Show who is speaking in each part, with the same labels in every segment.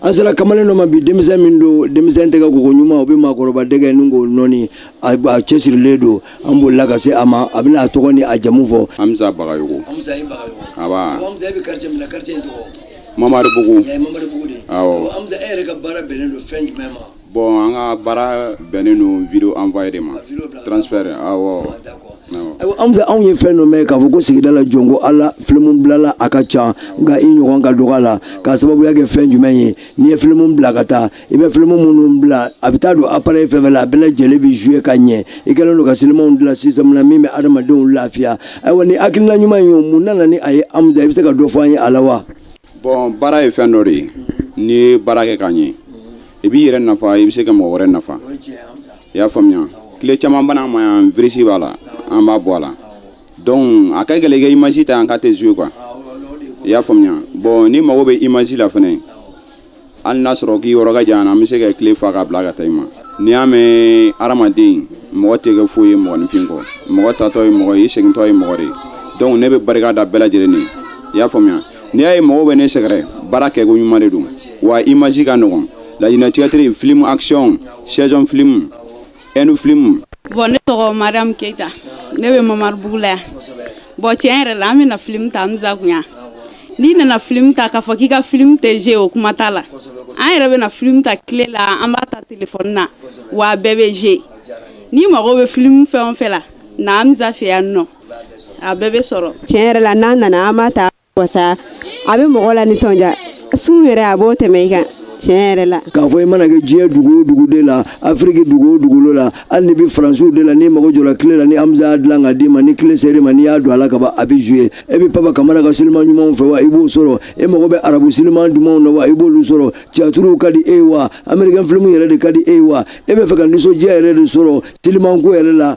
Speaker 1: an sera kamalen dɔ ma bi denmisɛn min don denmisɛn tɛgɛ koko ɲuman o bɛ maakɔrɔba dɛgɛ mugu nɔni a cɛsirilen don an bolila ka se a ma a bɛna a tɔgɔ ni a jamu fɔ hamza
Speaker 2: bagayogo hamza i
Speaker 1: bagayogo nba hamza e
Speaker 2: bɛ quartier min
Speaker 1: na quartier in tɔgɔ mamaribugu
Speaker 2: mamaribugu de awɔ
Speaker 1: hamza e yɛrɛ ka
Speaker 2: baara
Speaker 1: bɛnnen don fɛn jumɛn ma Bon an ka
Speaker 2: baara bɛnnen don video envoyer de ma transfert
Speaker 1: awɔ Hamza anw ye fɛn dɔ mɛn k'a fɔ ko sigida la jɔn ko Ala film bilala a ka ca nka i ɲɔgɔn ka dɔgɔ a la k'a sababuya kɛ fɛn jumɛn ye n'i ye film bila ka taa i bɛ film minnu bila a bɛ taa don appareil fɛn fɛn la a bɛɛ lajɛlen bɛ jouer ka ɲɛ i kɛlen don ka silimanw dilan système na min bɛ adamadenw lafiya ayiwa nin hakilina ɲuman in ye mun nana ni a ye Hamza i bɛ se ka dɔ fɔ an ye a la wa? Bɔn
Speaker 2: baara ye fɛn dɔ de ye n'i ye baara kɛ k'a ɲɛ i b'i yɛrɛ nafa i bɛ se ka mɔgɔ wɛrɛ nafa i y'a faamuya kile caman bɛ na n ma yan virisi b'a la an b'a bɔ a la dɔnku a ka gɛlɛn i ka imazi ta yan k'a tɛ zuye kwa i y'a faamuya bɔn n'i mago bɛ imazi la fana hali n'a sɔrɔ k'i yɔrɔ ka jan an bɛ se ka clé fa k'a bila ka taa i ma n'i y'a mɛn hadamaden mɔgɔ tɛ kɛ foyi ye mɔgɔninfin kɔ mɔgɔ taatɔ ye mɔgɔ ye i segintɔ ye mɔgɔ de ye donc ne bɛ barika da bɛɛ lajɛlen ye i y'a faamuya n'i y'a ye mɔgɔw bɛ ne sɛgɛrɛ baara kɛko ɲuman de don wa image ka nɔgɔn laɲinɛ théâtre film action saison film ɛndu filimu. bɔn ne
Speaker 3: tɔgɔ mariam keyita ne bɛ mamaribugu la yan bɔn tiɲɛ yɛrɛ la an bɛ na filimu ta hamza kun yan n'i nana filimu ta k'a fɔ k'i ka filimu tɛ zuye o kuma t'a la an yɛrɛ bɛ na filimu ta kile la an b'a ta telefɔni na wa a bɛɛ bɛ zuye n'i mago bɛ filimu fɛn o fɛn la na hamza fɛ yan nɔ a bɛɛ bɛ sɔrɔ. tiɲɛ yɛrɛ la n'an nana
Speaker 4: an b'a ta wasa a bɛ mɔgɔ lanisɔndiya su yɛrɛ a b'o tɛmɛ i kan tiɲɛ yɛrɛ la k'a fɔ i mana kɛ
Speaker 1: diɲɛ dugu o dugu de la afiriki dugu o dugukolo la hali n'i bɛ faransiw de la n'i mago jɔra kile la ni hamza y'a dilan k'a d'i ma ni kile ser'i ma n'i y'a don a la ka ban a bɛ zuye e bɛ papa kamara ka siliman ɲumanw fɛ wa i b'o sɔrɔ e mago bɛ arabu siliman dumanw na wa i b'olu sɔrɔ tiyatiriw ka di e ye wa amerikɛn filimu yɛrɛ de ka di e ye wa e bɛ fɛ ka nisɔndiya yɛrɛ de sɔrɔ silimanko yɛrɛ la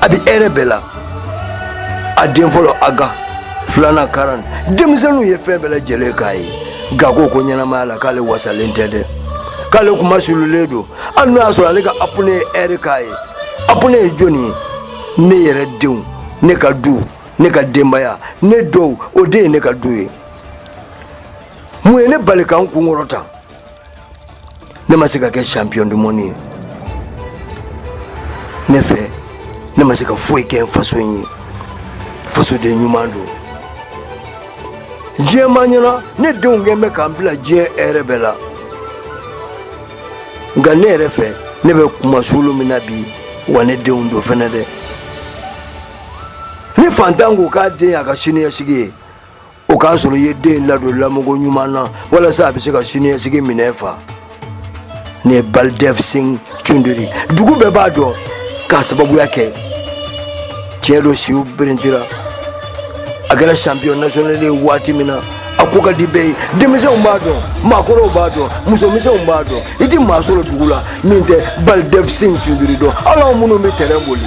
Speaker 1: a bɛ hɛrɛ bɛɛ la a den fɔlɔ aga filanan karan denmisɛnninw ye fɛn bɛɛ lajɛlen k'a ye nka ko ko ɲɛnamaya la k'ale wasalen tɛ dɛ k'ale kunmasuulilen don hali n'o y'a sɔrɔ ale ka avenir ye hɛrɛ k'a ye avenir ye jɔni ye ne yɛrɛ denw ne ka du ne ka denbaya ne dɔgɔw o de ye ne ka du ye mun ye ne bali ka n kunkɔrɔta ne ma se ka kɛ champion du monde ye ne fɛ ne ma se ka foyi kɛ n faso ye fasoden ɲuman don diɲɛ ma ɲɛ n na ne denw kɛlen bɛ ka n bila diɲɛ hɛrɛ bɛɛ la nka ne yɛrɛ fɛ ne bɛ kunmasuuli min na bi wa ne denw don fɛnɛ dɛ ni fantan ko k'a den y'a ka siniɲɛsigi ye o k'a sɔrɔ i ye den ladon lamɔko ɲuman na walasa a bɛ se ka siniɲɛsigi minɛ fa nin ye baldev singh cundiri dugu bɛɛ b'a dɔn k'a sababuya kɛ tiɲɛ don siw berentira a kɛra champion national ye waati min na a ko ka di bɛɛ ye denmisɛnw b'a dɔn maakɔrɔw b'a dɔn musomisɛnw b'a dɔn i tɛ maa sɔrɔ dugu la min tɛ baldev singh cundiri dɔn hali anw minnu bɛ tɛrɛn boli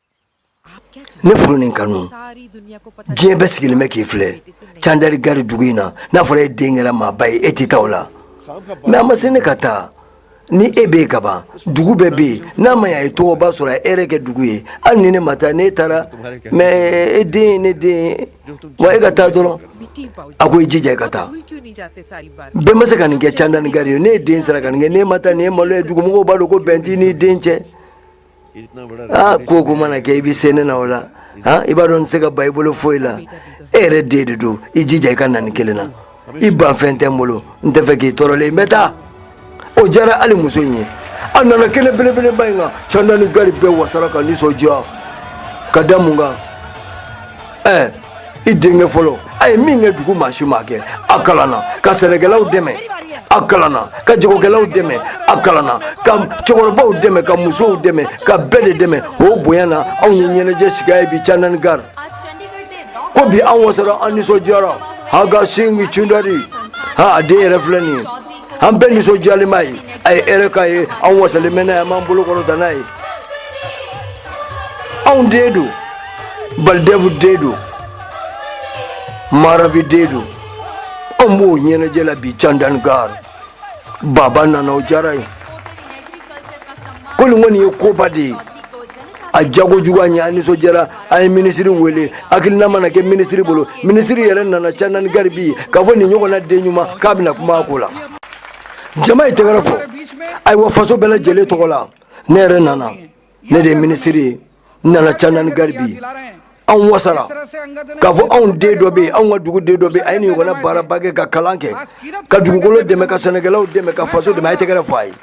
Speaker 1: ne furu ni kanu diɲɛ bɛɛ sigilen bɛ k'i filɛ candari gari dugu in na n'a fɔra e den kɛra maaba ye e tɛ taa o la mais a ma se ne ka taa ni e bɛ ka ban dugu bɛɛ bɛ yen n'a ma y'a ye tɔgɔba sɔrɔ a e yɛrɛ kɛ dugu ye hali ni ne ma taa n'e taara mɛ e den ye ne den ye wa e ka taa dɔrɔn a ko i jija i ka taa bɛɛ ma se ka nin kɛ candani gari ye n'e den sera ka nin kɛ n'e ma taa nin ye malo ye dugumɔgɔw b'a dɔn ko bɛn t'i n'i den cɛ aa ko ko mana kɛ i bɛ se ne na o la han i b'a dɔn n tɛ se ka ban i bolo foyi la e yɛrɛ den de don i jija i ka na nin kelen na i banfɛn tɛ n bolo n tɛ fɛ k'i tɔɔrɔlen ye n bɛ taa o diyara hali muso in ye a nana kɛnɛ belebeleba in kan candani gari bɛɛ wasara ka nisɔndiya ka da mun kan ɛɛ i denkɛ fɔlɔ a ye min kɛ dugu maa si m'a kɛ a kalanna ka sɛnɛkɛlaw dɛmɛ a kalanna ka jagokɛlaw dɛmɛ a kalanna ka cɛkɔrɔbaw dɛmɛ ka musow dɛmɛ ka bɛɛ de dɛmɛ o bonya na anw ye ɲɛnajɛ sigi a ye bi candani gari ko bi an wasara an nisɔndiyara angad singh cundari ha a den yɛrɛ filɛ nin ye an bɛɛ nisɔndiyalen b'a ye a ye hɛrɛ k'an ye an wasalen bɛ n'a ye an b'an bolo kɔrɔta n'a ye anw den don baldev den don ma ravi den don an b'o ɲɛnajɛ la bi candan gar baba nana o diyara a ye ko nin kɔni ye koba de ye a diyako jugu an ye an nisɔndiyara an ye minisiri wele hakilina mana kɛ minisiri bolo minisiri yɛrɛ nana candani gari bi k'a fɔ nin ɲɔgɔnna den ɲuman k'a bɛna kuma a ko la jama ye tɛgɛrɛ fɔ ayiwa faso bɛɛ lajɛlen tɔgɔ la ne yɛrɛ nana ne de ye minisiri ye n nana candani gari bi anw wasara k'a fɔ anw den dɔ bɛ yen anw ka dugu den dɔ bɛ yen a ye nin ɲɔgɔnna baaraba kɛ ka kalan kɛ ka dugukolo dɛmɛ ka sɛnɛkɛlaw dɛmɛ ka faso dɛmɛ a ye tɛgɛrɛ fɔ a ye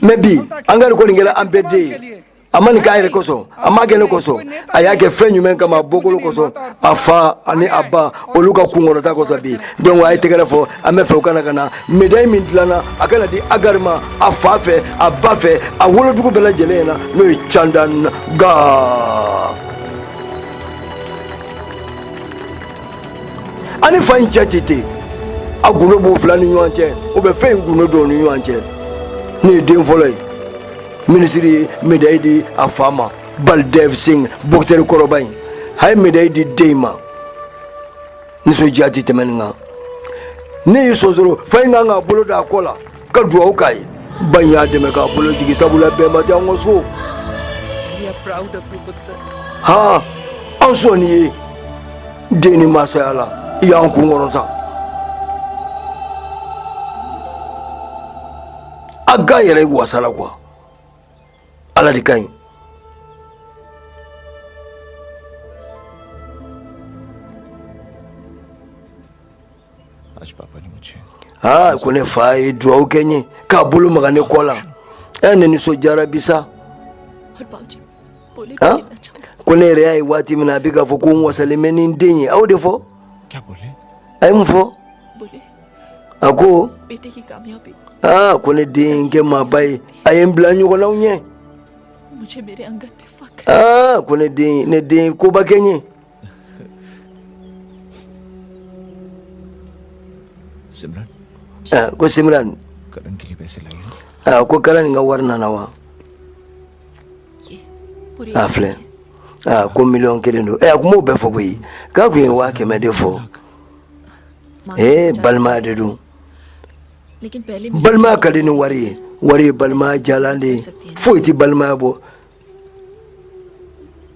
Speaker 1: mais bi angari kɔni kɛra an bɛɛ den ye a ma nin k'a yɛrɛ kosɔn a ma kɛ ne kosɔn a y'a kɛ fɛn jumɛn kama bɔkolo kosɔn a fa ani a ba olu ka kunkɔrɔta kɔsɔn bi donc a ye tɛgɛrɛ fɔ an bɛ fɛ u ka na ka na médaille min dilanna a ka na di agari ma a fa fɛ a ba fɛ a wolodugu bɛɛ lajɛlen ɲɛna n'o ye candan ga a ni fa in cɛ tɛ ten a gundo b'u fila ni ɲɔgɔn cɛ u bɛ fɛn in gundo don ni ɲɔgɔn cɛ nin ye den fɔlɔ ye minisiri ye médaille di a fa ma baldev singh boxeur kɔrɔba in a ye médaille di den in ma nisɔndiya tɛ tɛmɛ nin kan ne y'i sonsoro fa in kan k'a bolo da a kɔ la ka dugawu k'a ye ba in y'a dɛmɛ k'a bolo jigin sabula bɛnba tɛ an ka so han an sɔnni ye den ni masaya la i y'an kun kɔrɔta aga yɛrɛ wasala kuwa Ala de ka ɲi
Speaker 5: aa ko ne fa ye
Speaker 1: dugawu kɛ n ye k'a bolo maga ne kɔ la ɛ ne nisɔndiyara bi sa
Speaker 6: ko ne yɛrɛ y'a ye waati
Speaker 1: min na a bɛ k'a fɔ ko n wasalen bɛ ni n den ye aw de fɔ
Speaker 5: a ye mun fɔ
Speaker 6: a ko aa ko ne
Speaker 1: den kɛ maaba ye a ye n bila ɲɔgɔnnaw
Speaker 6: ɲɛ aa ko ne den ne
Speaker 1: den koba kɛ n ye ko
Speaker 5: simiran ko karan ka wari
Speaker 1: nana
Speaker 6: wa a filɛ
Speaker 1: ko miliyɔn kelen don ɛ a tun m'o bɛɛ fɔ koyi k'a tun ye waa kɛmɛ de fɔ ee balima de don
Speaker 6: balima ka di ni wari
Speaker 1: ye wari ye balima jalan de ye foyi tɛ balimaya bɔ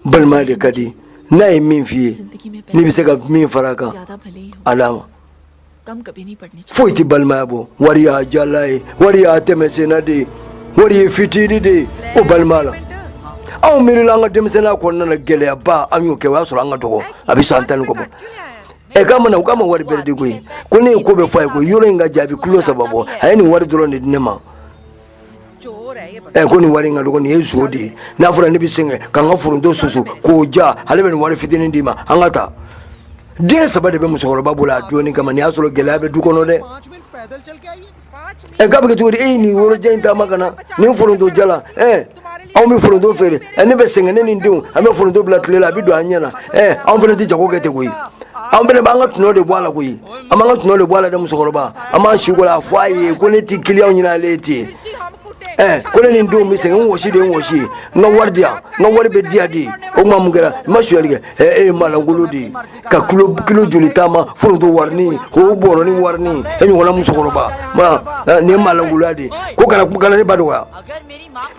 Speaker 1: balima de ka di n'a ye min f'i ye n'i bɛ se ka min fara a kan a d'a
Speaker 6: ma foyi tɛ balimaya bɔ
Speaker 1: wari y'a jala ye wari y'a tɛmɛ senna de ye wari ye fitini de ye o balima la anw miirila an ka denmisɛnninya kɔnɔna na gɛlɛyaba an y'o kɛ o y'a sɔrɔ an ka dɔgɔ a bɛ san tan ni kɔ bɔ ɛ k'a mana u k'a ma wari bɛrɛ di koyi ko ne ye ko bɛɛ fɔ a ye ko yɔrɔ in ka jan a bɛ kilo saba bɔ a ye nin wari dɔrɔn de di ne ma
Speaker 7: ɛ ko nin wari in ka dɔgɔ nin
Speaker 1: ye zon de ye n'a fɔra ne bɛ sɛgɛn k'an ka foronto susu k'o ja ale bɛ nin wari fitinin di n ma an ka taa den saba de bɛ musokɔrɔba bolo a dɔɔni kama nin y'a sɔrɔ gɛlɛya bɛ du kɔnɔ dɛ
Speaker 5: ɛ k'a bɛ kɛ cogo di e ye
Speaker 1: nin yɔrɔjan in taama ka na nin foronto jalan ɛ anw bɛ foronto feere ɛ ne bɛ sɛgɛn ne ni n denw an bɛ foronto bila tile la a bɛ don an ɲɛ na ɛ anw fana tɛ jago kɛ ten koyi anw fana b'an ka tɔnɔ de bɔ a la koyi an b'an ka tɔnɔ de bɔ a la dɛ musokɔrɔba an b'an si kɔrɔ a fɔ a ye ko ne tɛ kiliyanw ɲini ale ye ten ɛɛ ko ne ni n denw bɛ sɛgɛn n wɔsi de ye n wɔsi ye n ka wari di yan n ka wari bɛɛ di yan dɛ o tuma mun kɛra n ma sonyali kɛ ɛɛ e ye maalankolon de ye ka kilo kilo joli taama foronto warinin o bɔrɔnin warinin e ɲɔgɔnna musokɔrɔba ma ɛɛ, nin ye maalankolonya de ye ko kana kana ne ba dɔgɔya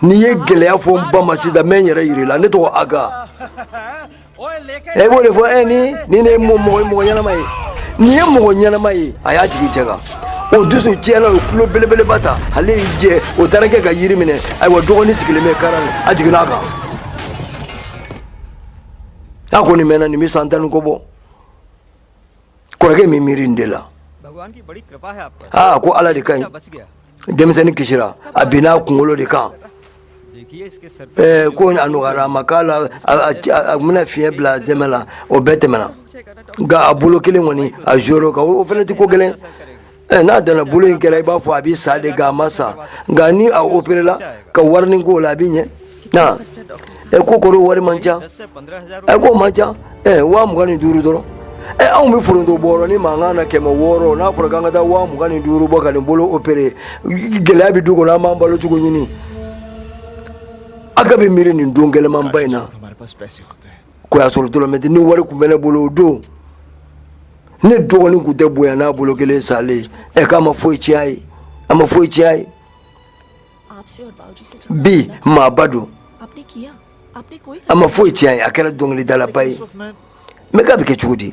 Speaker 1: n'i ye gɛlɛya fɔ n ba ma sisan n bɛ n yɛrɛ yir'i la ne tɔgɔ aga e b'o de fɔ e nin ye mɔgɔ ɲɛnama ye nin ye mɔgɔ ɲɛnama ye a y'a jigin cɛ kan o dusu tiɲɛna o kulo belebeleba ta ale y'i jɛ o taara kɛ ka yiri minɛ ayiwa dɔgɔnin sigilen bɛ karan a jiginna a kan a kɔni mɛnna nin bɛ san tan ni kɔ bɔ kɔrɔkɛ bɛ miiri nin de
Speaker 5: la aa ko ala de
Speaker 1: ka ɲi
Speaker 5: denmisɛnnin kisira
Speaker 1: a binna a kunkolo de kan
Speaker 5: eh, ko a nɔgɔyara a
Speaker 1: ma k'a la a bɛna fiɲɛ bila sɛmɛ la o bɛɛ tɛmɛna nka a bolo kelen kɔni a jɔrɔ nka o fana tɛ ko gɛlɛn n'a danna bolo in kɛra i b'a fɔ a bɛ sa de nka a ma sa nka ni a operela ka warinin k'o la a bɛ ɲɛ na ɛ ko k'o wari man ca ɛ
Speaker 5: k'o man ca ɛ
Speaker 1: waa mugan ni duuru dɔrɔn ɛ anw bɛ foronto bɔrɔ ni mankan na kɛmɛ wɔɔrɔ n'a fɔra k'an ka taa waa mugan ni duuru bɔ ka nin bolo opere gɛlɛya bɛ du kɔnɔ an b'an balo cogo ɲini a ka bɛ miiri nin don gɛlɛmanba in na
Speaker 5: ko y'a sɔrɔ dɔrɔmɛ tɛ
Speaker 1: ni wari tun bɛ ne bolo o don ne dɔgɔnin tun tɛ bonya n'a bolo kelen salen ɛ k'a ma foyi tiɲɛ ye a ma foyi tiɲɛ ye
Speaker 6: bi
Speaker 1: maaba
Speaker 6: don a ma foyi tiɲɛ ye a kɛra
Speaker 1: dɔnkilidalaba ye
Speaker 5: mɛ k'a bɛ kɛ cogo
Speaker 1: di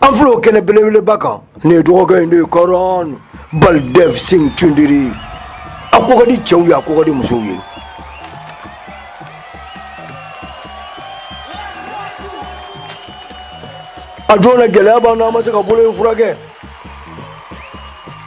Speaker 1: an filɛ o kɛnɛ belebeleba kan nin ye dɔgɔkɛ in de ye karan baldev singh chaudhary a ko ka di cɛw ye a ko ka di musow ye a don na gɛlɛya b'an na an ma se ka bolo in furakɛ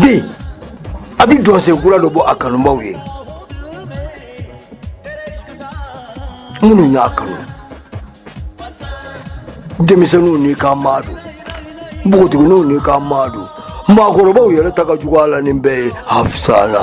Speaker 1: Bi a bɛ dɔnsen kura dɔ bɔ a kanubaw ye minnu y'a kanu denmisɛnninw nikanmaa don npogotigininw nikanmaa don maakɔrɔbaw yɛrɛ ta ka jugu a la nin bɛɛ ye hafsana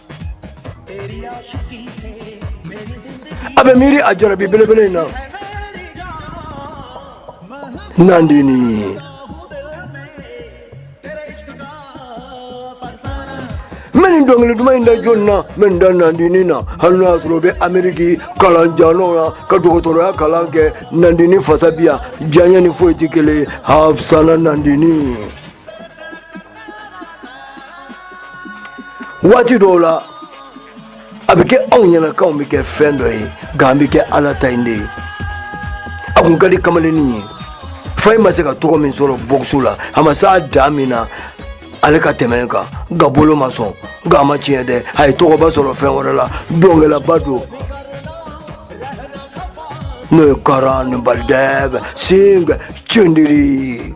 Speaker 1: a bɛ miiri a jarabi belebele in na nandini bɛ nin dɔnkili duman in da jɔn na bɛ nin da nandini na hali n'a y'a sɔrɔ o bɛ ameriki kalan janw na ka dɔgɔtɔrɔya kalan kɛ nandini fasa bi yan diyaɲɛ ni foyi tɛ kelen ye hafsana nandini waati dɔw la a bɛ kɛ anw ɲɛna k'anw bɛ kɛ fɛn dɔ ye nka an bɛ kɛ ala ta in de ye a kun ka di kamalennin ye fa in ma se ka tɔgɔ min sɔrɔ boxe la a ma s'a dan min na ale ka tɛmɛ kan nka bolo ma sɔn nka a ma tiɲɛ dɛ a ye tɔgɔba sɔrɔ fɛn wɛrɛ la dɔnkɛlaba don n'o ye karan ni baldev singh cendiri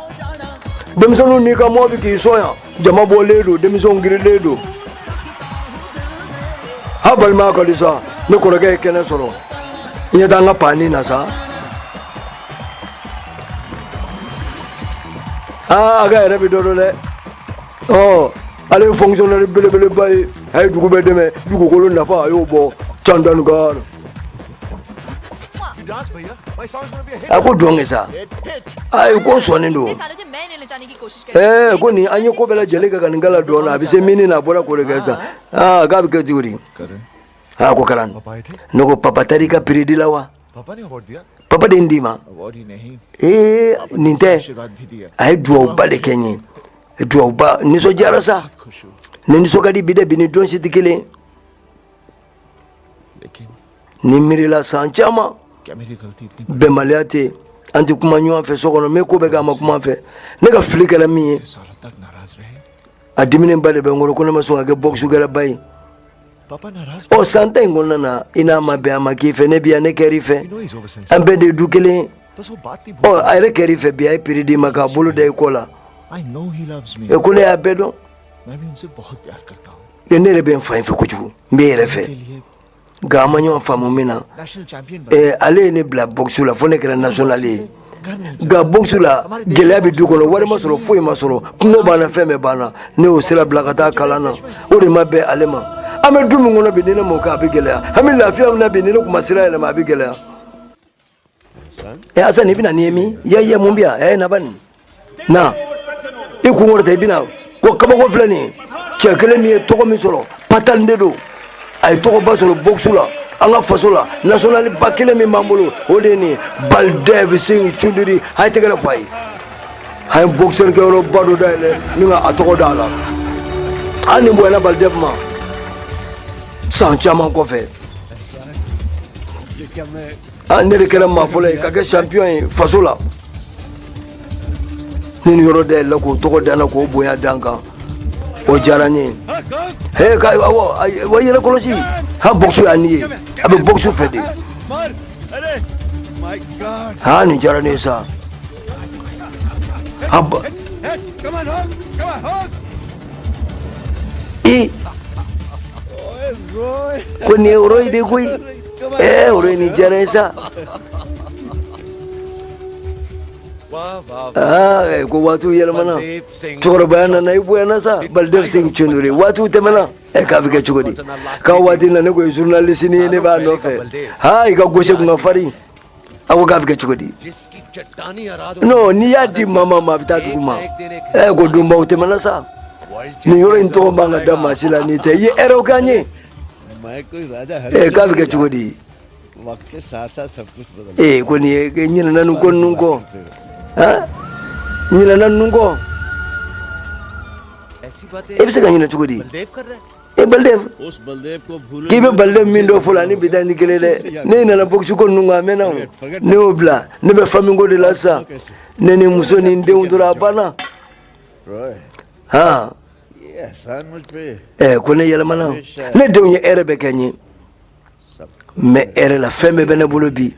Speaker 1: denmisɛnninw n'i ka mɔɔ bi k'i sɔn yan jama bɔlen don denmisɛnw girilen don ha balimaya ka di sa ne kɔrɔkɛ ye kɛnɛ sɔrɔ i ɲɛ tɛ an ka paani na sa aa a ka yɛrɛ bɛ dɔ dɔn dɛ ɔ ale ye fonctionnaire belebeleba ye a ye dugu bɛɛ dɛmɛ dugukolo nafa a y'o bɔ chandigarh a ko dɔn kɛ sa ayi ko sɔɔni don ee ko nin an ye ko bɛɛ lajɛlen kɛ ka nin kalan dɔn a bɛ se min na a bɔra k'o de kɛ sa aa k'a bɛ kɛ cogo di aa ko karan ne ko papa taara i ka prix di la wa papa de ye nin d'i ma ee nin tɛ a ye duwawuba de kɛ n ye duwawuba n nisɔndiyara sa ne nisɔn ka di bi dɛ bi ni don si tɛ kelen n'i miirila san caman bɛnbaliya tɛ yen an tɛ kuma ɲɔgɔn fɛ so kɔnɔ n bɛ ko bɛɛ kɛ a ma kuma n fɛ ne ka fili kɛra min ye a diminenba de bɛ n kɔrɔ ko ne ma sɔn ka kɛ bɔkisukɛlaba ye ɔ san tan in kɔnɔna na i n'a ma bɛn a ma k'i fɛ ne bi yan ne kɛr'i fɛ an bɛɛ de ye du kelen ye ɔ a yɛrɛ kɛr'i fɛ bi a ye prix d'i ma k'a bolo da i kɔ la e ko ne y'a bɛɛ dɔn ne yɛrɛ bɛ n fa in fɛ kojugu n bɛ yɛrɛ fɛ nka an ma ɲɔgɔn faamu min na eh, ale ye ne bila boxe la fo ne kɛra national ye nka boxe la gɛlɛya bɛ du kɔnɔ wari ma sɔrɔ foyi ma sɔrɔ kunko b'an na fɛn bɛɛ b'an na ne y'o sira bila ka taa kalan na o de ma bɛn ale ma an bɛ du min kɔnɔ bi ni ne m'o kɛ a bɛ gɛlɛya an bɛ lafiya min na bi ni ne tun ma sira yɛlɛma a bɛ gɛlɛya e asan i bɛna ni mi ye ye mun bɛ yan e na ban na i kun kɔrɔta i bɛna ko kabako filɛ nin cɛ kelen min ye tɔgɔ min sɔrɔ patan de don a ye tɔgɔba sɔrɔ boxe la an ka faso la national ba kelen min b'an bolo o de ye nin baldev singh chudiri a ye tɛgɛrɛ fɔ a ye a ye boxeur kɛyɔrɔba dɔ dayɛlɛ ni ka a tɔgɔ da a la hali nin bonyana baldev ma san caman kɔfɛ an ne de kɛra maa fɔlɔ ye ka kɛ champion ye faso la ni nin yɔrɔ dayɛlɛ k'o tɔgɔ da n na k'o bonya da n kan o diyara n ye he ka awɔ a- wa yɛrɛ kɔlɔsi ha boxe y'a ni ye a bɛ boxe fɛ de ha nin diyara ne ye sa ha ba- Eh. Ko nin ye Roy de koyi. Eh, Roy nin diyara n ye sa. Ah, eh, ko waatiw yɛlɛmana cɛkɔrɔbaya nana i bonyana sa Baldev Singh Choudhary waatiw tɛmɛna ɛ k'a bɛ kɛ cogo di k'a waati na ne ko ye journaliste ni ye ne b'a nɔfɛ ha i ka gauche kun ka farin a ko k'a bɛ kɛ cogo di non n'i y'a di maa ma maa a bɛ taa dugu ma ɛ ko donbaw tɛmɛna sa nin yɔrɔ in tɔgɔ man ka da maa si la n'i tɛ i ye hɛrɛw k'an ye ɛ k'a bɛ kɛ cogo di ee ko ne ɲinɛna nin ko ninnu kɔ ɲinɛna ninnu kɔ e bɛ se ka ɲinɛ cogo di. e Baldev k'i bɛ Baldev min dɔn fɔlɔ ni bi ta tɛ kelen dɛ ne ɲinɛna bɔkisiko ninnu kɔ a mɛnna ne y'o bila ne bɛ famiko de la sisan ne ni muso ni n denw dɔrɔn a banna han ɛ ko ne yɛlɛmana ne denw ye hɛrɛ bɛɛ kɛ n ye mais hɛrɛ la fɛn bɛɛ bɛ ne bolo bi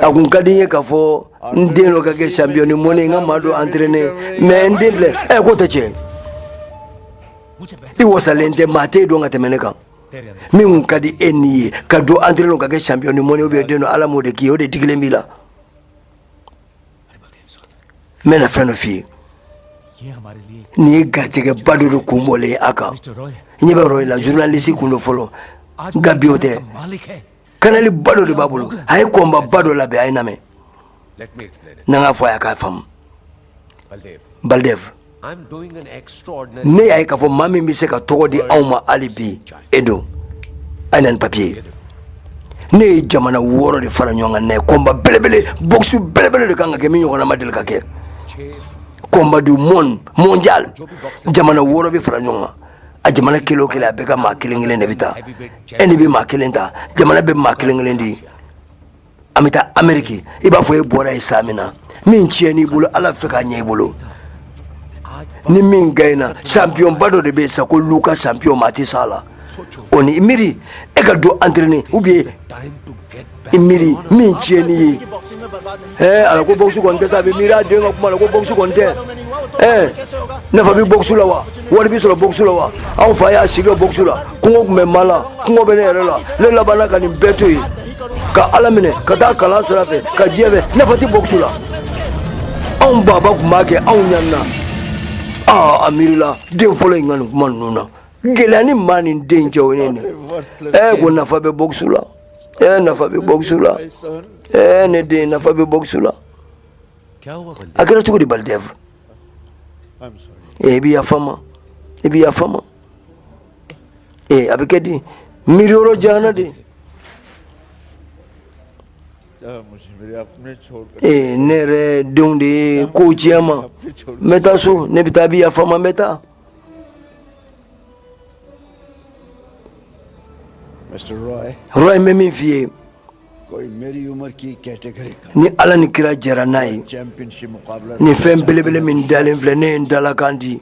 Speaker 1: a kun ka di n ye k'a fɔ n den dɔ ka kɛ champion du monde n ka maa dɔ entraîné mais n den filɛ ɛ k'o tɛ tiɲɛ i wasalen tɛ maa tɛ dɔn ka tɛmɛ ne kan min kun ka di e ni ye ka dɔ entraîné ka kɛ champion du monde ou bien den dɔ ala m'o de k'i ye o de digilen b'i la n bɛna fɛn dɔ f'i ye nin ye garijɛgɛba dɔ de kun bɔlen ye a kan n ɲɛ bɛ Roy la journaliste kun don fɔlɔ nka bi o tɛ kanali ba dɔ de b'a bolo a ye combat ba dɔ labɛn a ye lamɛn n'an k'a fɔ a y'a k'a faamu Baldev ne y'a ye k'a fɔ maa min bɛ se ka tɔgɔ di anw ma hali bi e don a ye na ni papiye ye ne ye jamana wɔɔrɔ de fara ɲɔgɔn kan n'a ye combat belebele boxe belebele de kan ka kɛ min ɲɔgɔnna ma deli ka kɛ combat du monde mondial jamana wɔɔrɔ bɛ fara ɲɔgɔn kan a jamana kelen o kelen a bɛɛ ka maa kelen kelen de bɛ taa e ni bɛ maa kelen ta jamana bɛ maa kelen kelen di an bɛ taa ameriki i b'a fɔ e bɔra yen san min na min tiɲɛn'i bolo ala fɛ k'a ɲɛ i bolo ni min gayina sanpiyɔnba dɔ de bɛ yen sa ko Luka sanpiyɔn maa tɛ s'a la o ni i miiri e ka dɔ antirene ou bien i miiri min tiɲɛn'i ye ɛɛ ala ko bɔkisi kɔni tɛ sa a bɛ miiri a den ka kuma la ko bɔkisi kɔni tɛ ɛɛ nafa bɛ bɔkisi la wa wari bɛ sɔrɔ bɔkisi la wa anw fa y'a si kɛ bɔkisi la kɔngɔ tun bɛ maa la kɔngɔ bɛ ne yɛrɛ la ne labanna ka nin bɛɛ to yen ka ala minɛ ka taa kalan sira fɛ ka diɲɛ fɛ nafa tɛ bɔkusu la anw baba tun b'a kɛ anw ɲanina aa a miirila den fɔlɔ in ka nin kuma ninnu na gɛlɛya ni maa ni den cɛ o ne nin ɛɛ ko nafa bɛ bɔkusu la ɛɛ nafa bɛ bɔkusu la ɛɛ ne den nafa bɛ bɔkusu la a kɛra cogo di Baldev ee i bi yafa n ma i bi yafa n ma ee a bɛ kɛ di miiri yɔrɔ janyana de ee ne yɛrɛ denw de ye kow tiɲɛ n ma n bɛ taa so ne bɛ taa i bi yafa n ma n bɛ taa Roy n bɛ min f'i ye ni ala ni kira jɛra n'a ye nin fɛn belebele min dalen filɛ ne ye n dalakan di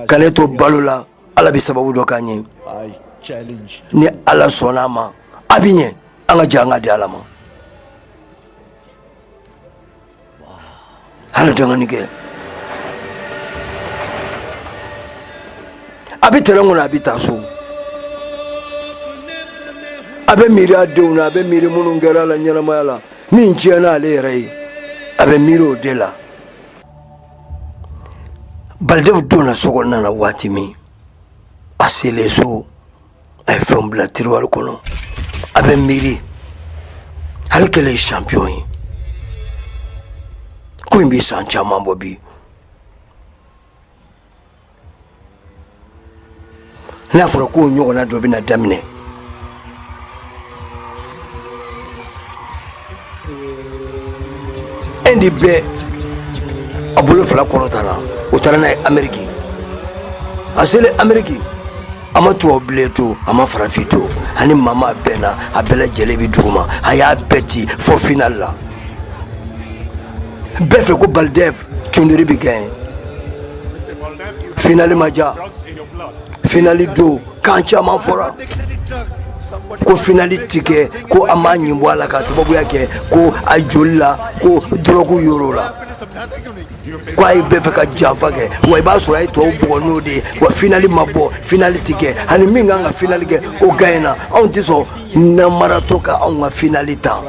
Speaker 1: ka ne to balo la ala bɛ sababu dɔ k'an ye ni ala sɔnna a ma a bɛ ɲɛ an ka jɛ an k'a di ala ma Hali dɔɔnin kɛ a bɛ tɛrɛn kɔnɔ a bɛ taa so a bɛ miiri a denw na a bɛ miiri minnu kɛra a la ɲɛnamaya la min tiɲɛna ale yɛrɛ ye a bɛ miiri o de la Baldev donna so kɔnɔna na waati min a selen so a ye fɛnw bila tiriwari kɔnɔ a bɛ miiri ale kɛlen ye champion ye ko in bɛ san caman bɔ bi n'a fɔra k'o ɲɔgɔnna dɔ bɛna daminɛ Inde bɛɛ a bolo fila kɔrɔtara u taara n'a ye ameriki a selen ameriki a ma tubabu bilen to a ma farafin to ani maa maa bɛɛ na a bɛɛ lajɛlen bi dugu ma a y'a bɛɛ ci fɔ finali la bɛɛ fɛ ko Baldev Choudhary bi gaɲɛ finali ma jaa finali don kan caman fɔra ko finali ti kɛ ko a m'a ɲin bɔ a la k'a sababuya kɛ ko a joli la ko dɔrɔgu sɔrɔla ko a ye bɛɛ fɛ ka janfa kɛ wa i b'a sɔrɔ a ye tɔw bugɔ n'o de ye wa finali ma bɔ finali ti kɛ ani min kan ka finali kɛ o gaɲɛna anw ti sɔn namaratɔ ka anw ka finali ta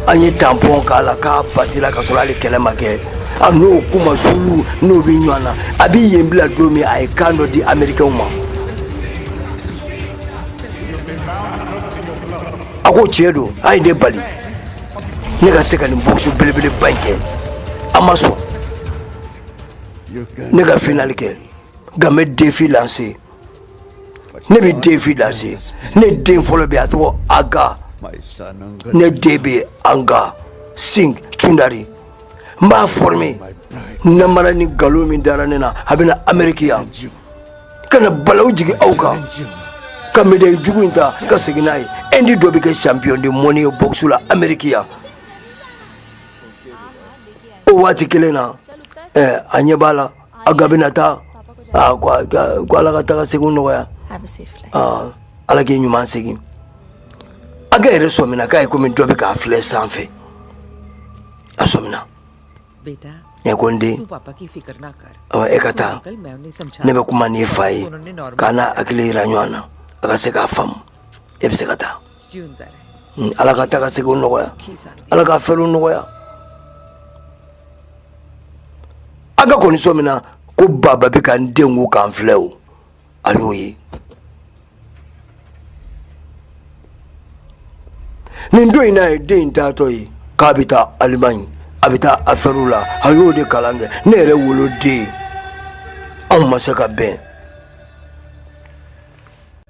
Speaker 1: an ye tanpɔn k'a la k'a batira ka sɔrɔ ale kɛlɛ ma kɛ a n'o kuma sulu n'o bɛ ɲɔgɔn na a bɛ yen bila don min a ye kan dɔ di amerikɛnw ma a ko tiɲɛ don a ye ne bali ne ka se ka nin bɔkisu belebeleba in kɛ a ma sɔn ne ka finali kɛ nka n bɛ defi lanse ne bɛ defi lanse ne den fɔlɔ bɛ a tɔgɔ aga ne den bɛ anga sing cundari n b'a forme namara ni nkalon min dara ne na a bɛ na ameriki yan ka na balaw jigin aw kan ka medayi jugu in ta ka segin n'a ye indi dɔ bɛ kɛ champion du monde ye bɔkisu la ameriki yan o waati kelen na a ɲɛ b'a la aga bɛna taa ko ala ka taga segin nɔgɔya ala k'i ɲuman segin aga yɛrɛ sɔmina k'a ye komi dɔ bɛ k'a filɛ sanfɛ a sɔmina ne ko n den e ka taa ne bɛ kuma n'i fa ye k'a n'a hakili jira ɲɔgɔn na a ka se k'a faamu e bɛ se ka taa hmm, ala ka taga segin nɔgɔya ala ka afɛriw nɔgɔya aga kɔni sɔmina ko baba bɛ ka n dɛn o ka n filɛ o a y'o ye nin don in n'a ye den in taatɔ ye k'a bɛ taa alimaɲi a bɛ taa afɛriw la a y'o de kalan kɛ ne yɛrɛ woloden anw ma se ka bɛn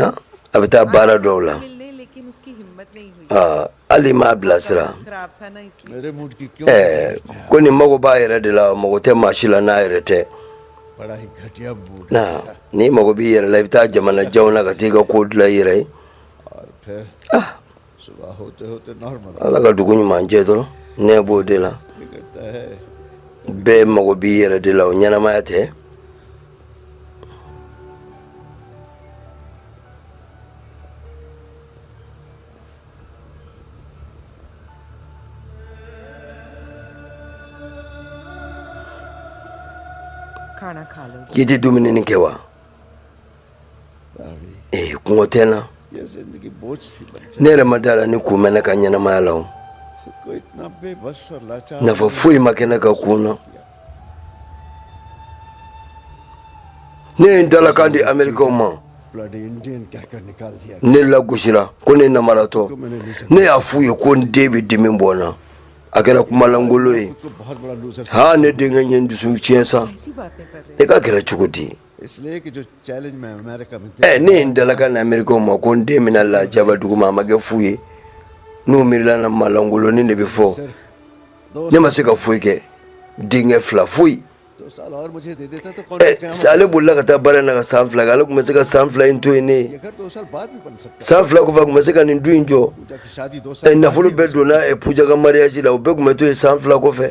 Speaker 1: ah, a bɛ taa baara dɔw la
Speaker 7: ah, hali m'a bilasira eh,
Speaker 5: ko nin mago b'a yɛrɛ
Speaker 1: de la mago tɛ maa si la n'a yɛrɛ tɛ
Speaker 5: n'i mago
Speaker 1: b'i yɛrɛ la i bɛ taa jamana janw na ka taa i ka ko dilan i yɛrɛ ye
Speaker 5: ah, ala ka dugu
Speaker 1: ɲuman jɛ dɔrɔn ne b'o de
Speaker 5: la
Speaker 1: bɛɛ mago b'i yɛrɛ de la o ɲɛnamaya tɛ
Speaker 7: k'i tɛ dumuni nin kɛ wa
Speaker 5: ee kɔngɔ tɛ n na ne yɛrɛ ma da la ni
Speaker 1: kun bɛ ne ka ɲɛnamaya la
Speaker 5: o nafa foyi ma kɛ ne
Speaker 1: ka kun na ne ye n dalakan di amerikɛnw
Speaker 5: ma ne
Speaker 1: lagosira ko ne namaratɔ ne y'a f'u ye ko n den bɛ dimi bɔ n na a kɛra kumalangolo ye
Speaker 5: haa ne denkɛ ye n
Speaker 1: dusu tiɲɛ sa ne
Speaker 7: ka kɛra cogo di
Speaker 5: Eh, ne ye n dalaka
Speaker 1: na amerikaw ma ko n den bɛna lajaba dugu ma a ma kɛ fu ye n'u miirila na maalankolonnin de bɛ fɔ ne
Speaker 5: ma se ka foyi
Speaker 1: kɛ denkɛ fila foyi
Speaker 5: eh, sa ale bolila ka taa baara
Speaker 1: na ka san fila kɛ ale tun bɛ se ka san fila in to yen ne
Speaker 5: ye san fila kɔfɛ a tun bɛ se ka nin
Speaker 1: du in jɔ
Speaker 5: eh, nafolo bɛɛ donna
Speaker 1: Puja ka mariyaji la o bɛɛ tun bɛ to yen san fila kɔfɛ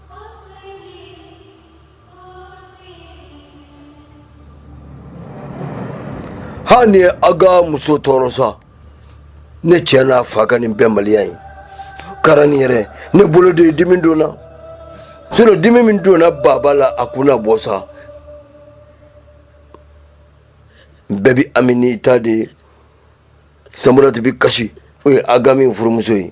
Speaker 1: hali a ka muso tɔɔrɔ sa ne cɛ n'a fa ka nin bɛnbaliya ye kara nin yɛrɛ ne bolo dɛ dimi donna sinɔ dimi min donna baba la a kunna bɔ sa bɛɛ bi amini ta de Samurati bi kasi o ye Agami furumuso ye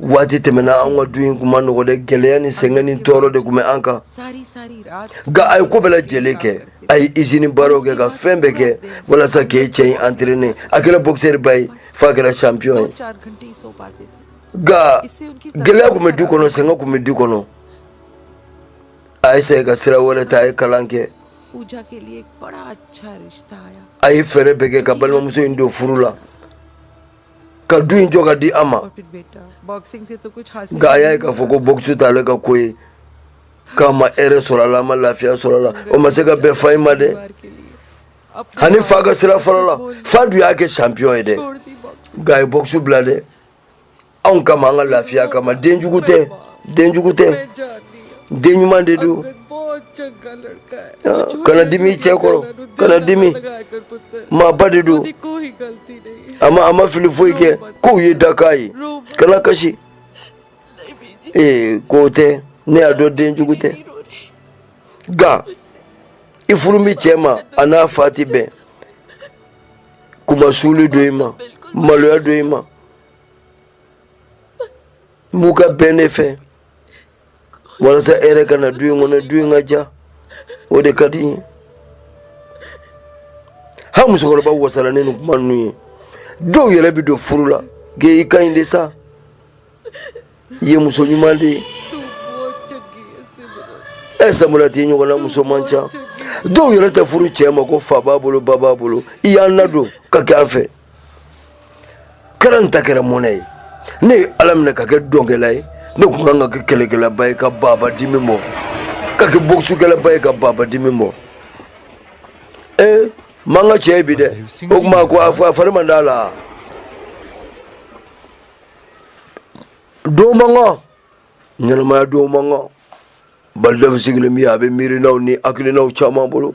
Speaker 7: waati
Speaker 1: tɛmɛna an ka du in tun man nɔgɔ dɛ gɛlɛya ni sɛgɛn ni tɔɔrɔ de tun bɛ an kan
Speaker 7: nka a ye ko bɛɛ
Speaker 1: lajɛlen kɛ a ye izini baaraw kɛ ka fɛn bɛɛ kɛ walasa k'e cɛ in antirene a kɛra boxeur ba ye f'a kɛra champion ye nka gɛlɛya tun bɛ du kɔnɔ sɛgɛn tun bɛ du kɔnɔ a ye sɛ ka sira wɛrɛ ta a ye kalan kɛ
Speaker 7: a ye fɛɛrɛ bɛɛ kɛ
Speaker 1: ka balimamuso in don furu la ka du in jɔ ka di an
Speaker 7: ma nka a y'a ye k'a fɔ ko
Speaker 1: bɔkisi t'ale ka ko ye k'a ma hɛrɛ sɔrɔ a la a ma lafiya sɔrɔ a la o ma se ka bɛn fa in ma dɛ
Speaker 7: a ni fa ka
Speaker 1: sira farala fa dun y'a kɛ champion ye dɛ nka a
Speaker 7: ye bɔkisi bila dɛ
Speaker 1: anw kama an ka lafiya kama den jugu tɛ den jugu tɛ
Speaker 7: den ɲuman de don kana dimi i cɛ
Speaker 1: kɔrɔ kana
Speaker 7: dimi maaba de don a ma a ma fili foyi
Speaker 1: kɛ kow ye dakan ye kana kasi ee k'o tɛ ne y'a dɔn den jugu tɛ nka i furu min cɛ ma a n'a fa tɛ bɛn kunmasuuli don i ma maloya don i ma n b'u ka bɛn de fɛ walasa hɛrɛ ka na du in kɔnɔ du in ka diya o de ka di n ye ha musokɔrɔba wasara ni kuma ninnu ye dɔw yɛrɛ bɛ don furu la kɛ i ka ɲi de sa i ye muso ɲuman
Speaker 7: de ye ɛ Samurati i ɲɔgɔnna
Speaker 1: muso man ca dɔw yɛrɛ tɛ furu cɛ ma ko fa b'a bolo ba b'a bolo i y'an ladon ka kɛ an fɛ kɛra nin ta kɛra mɔnɛ ye ne ye ala minɛ ka kɛ dɔnkɛla ye ne kun kan ka kɛ kɛlɛkɛlaba ye ka baba dimi bɔ ka kɛ bokisukɛlaba ye ka baba dimi bɔ e ma n ka cɛ ye bi dɛ o tuma ko a fari man d'a la don man kan ɲɛnamaya don man kan balidɛfu sigilen min a bɛ miirinaw ni hakilinaw caman bolo